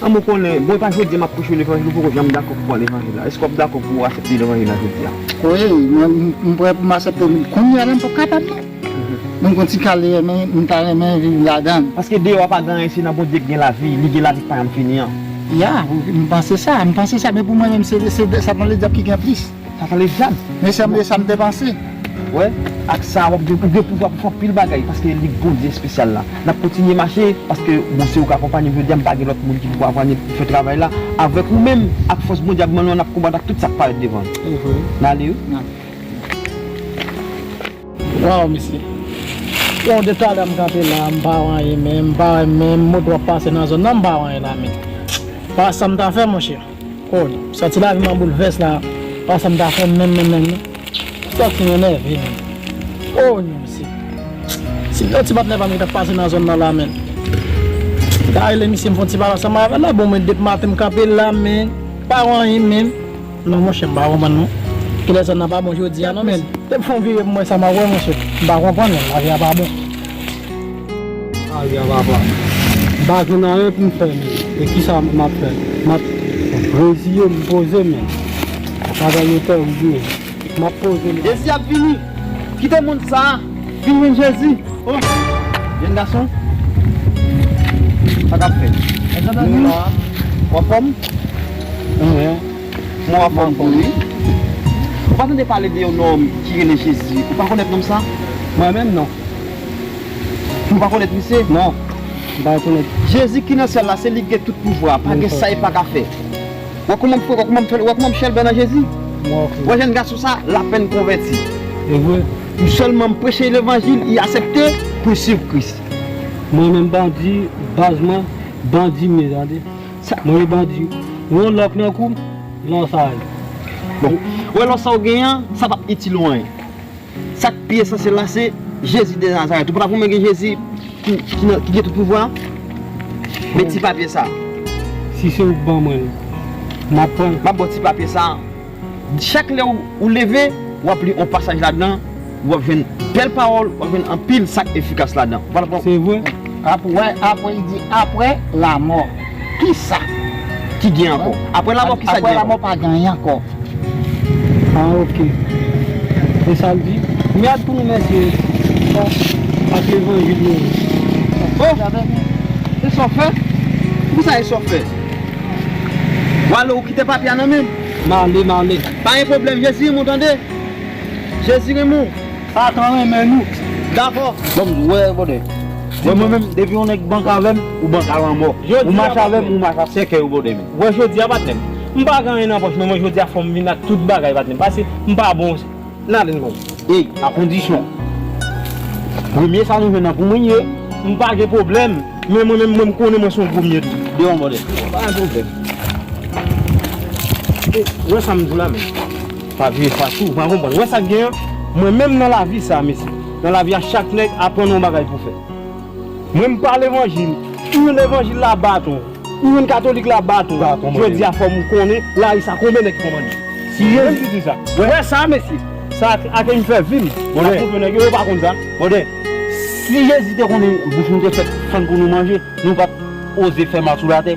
Anmwee ou konnen, bon e pa jodi a map preche levanjil ou poko janm dakò pou pran levanjil la, eske wap dakò pou asepte levanjil la jodi a? Wi mwen m prè pou m asepte l kounyea la m pap kapab non mwen gon ti kal m ta renmen viv ladan l. Paske deyò a pa gen anyen se nan Bondye k gen lavi, li gen lavi k pa janm fini an. Ya m panse sa, m panse sa men pou mwen menm se satan ledyab ki gen plis. Sa pale djab. Men sanble sa m te panse. Wè, ak sa wap gen ou gen pouvwa pou fè anpil bagay paske li Bondye espesyal la. Nap kontinye mache paske bon se ou k akonpanye m jodi a m pa gen lòt moun ki pou akonpanye m pou fè travay la avèk ou menm ak fòs Bondye ap ban nou an nap konbat ak tout sak parèt devan nou. Nale wi. Waw mesye Bon de talè m kanpe la m pa wè anyen menm m pa wè menm moto ap pase nan zòn nan m pa wè anyen la men pa wè sam ta fè monchè. Kòd. M santi lavi m an boulvès la pa sa m ta fè menm menm menm non. M santi m enève menm. Oh non mesye. Si m te yon ti patnè pa m ki t ap pase nan zòn nan la menn. M ta rele misye m fè yon ti pale ansanm avè l la bon mwen depi maten m kanpe la men m pa wè anyen menm. Non monchè m pa konprann non. Kilè zòn nan pa bon jodi a non menn. Depi m fè yon vire pou m wè sa m ap wè monchè. M pa konprann non lavi a pa bon. Aria papa m pa jwenn anyen pou m fè men e kisa m ap fè m ap reziye m poze men bagay yo tèrible wi m ap poze m. Jezi ap vini kite mond sa vin jwenn jezi oh jèn gason sa kap fèt nou la ou anfòm mwen mwen anfòm tou wi ou pa tande pale de yon nonm ki rele jezi ou pa konèt nonm sa mwen menm non. Nou pa konèt misye? Non, m pa rekonèt. Jezi ki nan syèl la se li ki gen tout pouvwa, pa gen sa li pa ka fè. Wè kouman m fre, wè kouman m fèl, wè kouman m chèlbè nan Jezi? Wè jèn gason sa, l apèn konvèti. Se vre? M sèlman m preche levanjil, li asepte pou l swiv Kris. Mwen menm bandi, baz mwen, bandi m ye tande. Mwen ye bandi. Ou yon lòk nan kou m, lò sa a ye. Bon, wè lò sa ou genyen an, sa p ap itil ou anyen. Sak pi esansyèl la se Jezi de Nazarèt. Ou pata pou mwen gen Jezi ki nan ki gen tout pouvwa a? Men ti papye sa. Si se ou k ban mwen l, m ap pran l. M ap ba w ti papye sa. Chak lè ou leve, w ap li on pasaj ladan, ou ap jwenn bèl pawòl, ou ap jwenn anpil sak efikas ladan. Se vre? Ap wè apre li di apre lamò kisa ki gen ankò? Apre lamò kisa ki gen ankò? Apre lamò pa gen anyen ankò. Ah ok. Se sa l di. Kounye a pou nou mèsi ak levanjil yo. Oh! E sa w fè? Pou kisa e sa w fè? Wale ou kite papye a nan men m? M ale, m ale. Pa gen pwoblèm. Jezi renmen w tande. Jezi renmen w. Satan renmen nou. Dakò. Banm diw wè brother. Wè mwen menm depi yon nèg bank avèm ou bank a lanmò. Ou mache avèm ou mache ak sèkèy ou brother m. Wè jodia patnèm. M pa gen anyen nan pòch men mwen jodia fòm vin ak tout bagay patnèm pase m pa bon nan non. Ey a kondisyon premye sa nou jwenn nan pou mwen ye. M pa gen pwoblèm men mwen menm mwen m konnen mwen son premye tou. Devan brother. Pa gen pwoblèm. Wè sam diw la menm. Pa vire fas ou, ou pa konprann. Ou wè sa k gen an? Mwen menm nan lavi sa a, mesye, nan lavi a chak nèg aprann ou yon bagay pou fè. Mwen m pa levanjil, ou yon levanjil la bat ou, ou yon katolik la bat ou, jodi a fò m konnen lari sa konben nèg ki konprann li. Se yo menm ki di sa. Ou wè sa a, mesye, sa a ke m fè vi m, m ap montre nèg yo, yo pa konn sa. Brother, si Jezi te konnen bouch nou te fèt fann pou nou manje, nou pa t oze fè mal sou latè.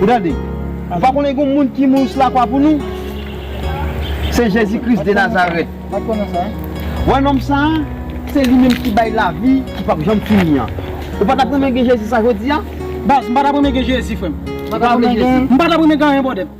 Ou tande? Ou pa konnen gon moun ki moun sou lakwa pou nou? Se Jezi Kris de Nazarèt. Ou wè nonm sa a? Se li menm ki bay lavi ki pap janm fini an. Ou pa t ap renmen gen Jezi sa jodi a? M pa t ap renmen gen Jezi, frè m. M pa t ap renmen gen anyen, bòdè m.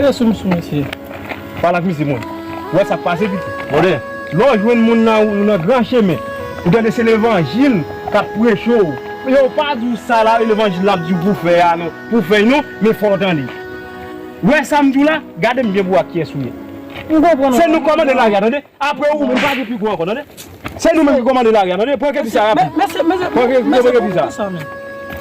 E sou misye mesye. Pale ak misye mwen. Wè sak pase pito. Mòde, lè w jwenn moun nan ou nan gran chemen, ou gade se levanjil kap preche w. Yo pa di w sa levanjil la ap di w pou w fè a non, pou w fè non, men fò w tande. Wè sa m di w la, gade m byen pou w wè ak kiyès ou ye. Se nou k kòmande lari a tande, apre ou menm. Ou pa gen pi gwo ankò tande. Se nou menm ki komande lari a tande pran kepi sa rapid pran kepi sa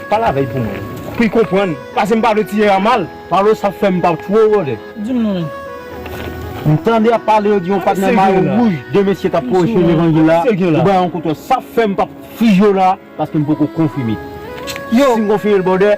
pale avèy pou mwen pou li konprann pase m pa vle tiye a mal palo sa fèm pa two vole di m non menm m tande yap pale yo di yon pat nan mayo wouj de mesye kap preche levanjil la yo bay yon koutò sa fèm pap fri yo la paske m poko konfime si m konfime l bòdè.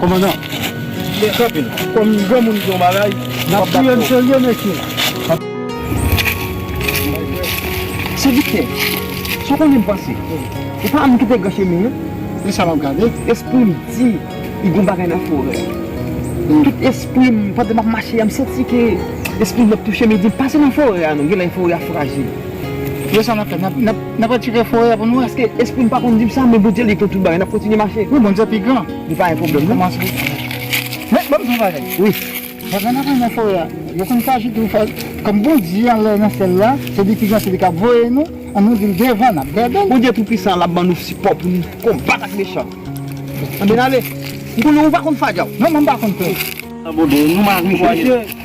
Komandan, men kanpe la. Kòm yon granmoun di yon bagay, nou pap dakò. Nap touyem serye mesye. Sè Viktè, sa w konnen m panse? Ou pa moun ki te gran chemen an? Men sa map gade. Espri m di li gon bagay nan forè a. Tout espri m, pandan map mache a, m santi ke espri m ap touche m e di m pase nan forè a non, genlè forè a frajil. Yo sa nap fè nap retire fo ya pou nou. Paske esprim pa konn dim sa men Bondye li konn tout bagay nap kontinye mache. Wi Bondye pi gran. Li pa gen pwoblèm non. Men banm di yon bagay. Wi. Pandan nap mennen fo ya yo konn faji tou fè kòm Bondye anlè nan syèl la se li ki gran se li kap voye nou an nou dil devan nap dèdèl. Bondye tou pisan lap ban nou sipò pou nou konbat ak mechan an. Anben ale. M konnen ou pa konn fadya ou. Non mwen pa konn fè. Anben nou mare. Mesye.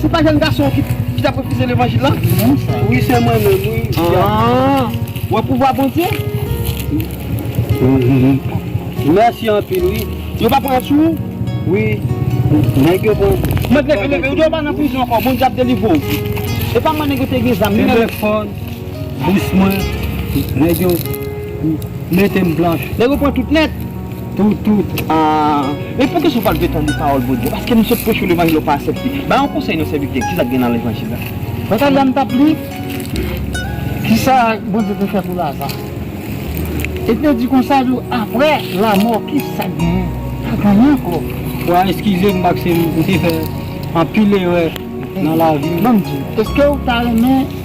Se pa jèn gason ki tap refize levanjil la? Wi se mwen menm wi. Aah ou wè pouvwa Bondye? Mèsi anpil wi. Yo pa pran sou ou? Wi nèg yo pran. Mèt leve leve ou dwe pa nan prizon ankò Bondye ap delivre ou. Epa man nèg yo te gen zam wi. Kenbe fòn bous mwen nèg yo mete m blanch. Nèg yo pran tout nèt. Tout, tout, aah. Men poukisa ou pa vle tande pawòl Bondye? Paske nou sot preche w levanjil ou pa asepte. Bay yon konsèy non sèvitè, kisa k gen nan levanjil la? Bagay la m tap li, kisa Bondye te fè pou Laza. E te di konsa tou, aprè lamò kisa k gen? Pa genyen ankò. Wa eskize m paske m te fè anpil erè nan lavi m. Banm di, eskew ta renmen.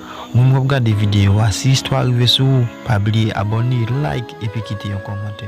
Moun wap gade video a si istwa rive sou ou pa bliye abone like epi kite yon komante.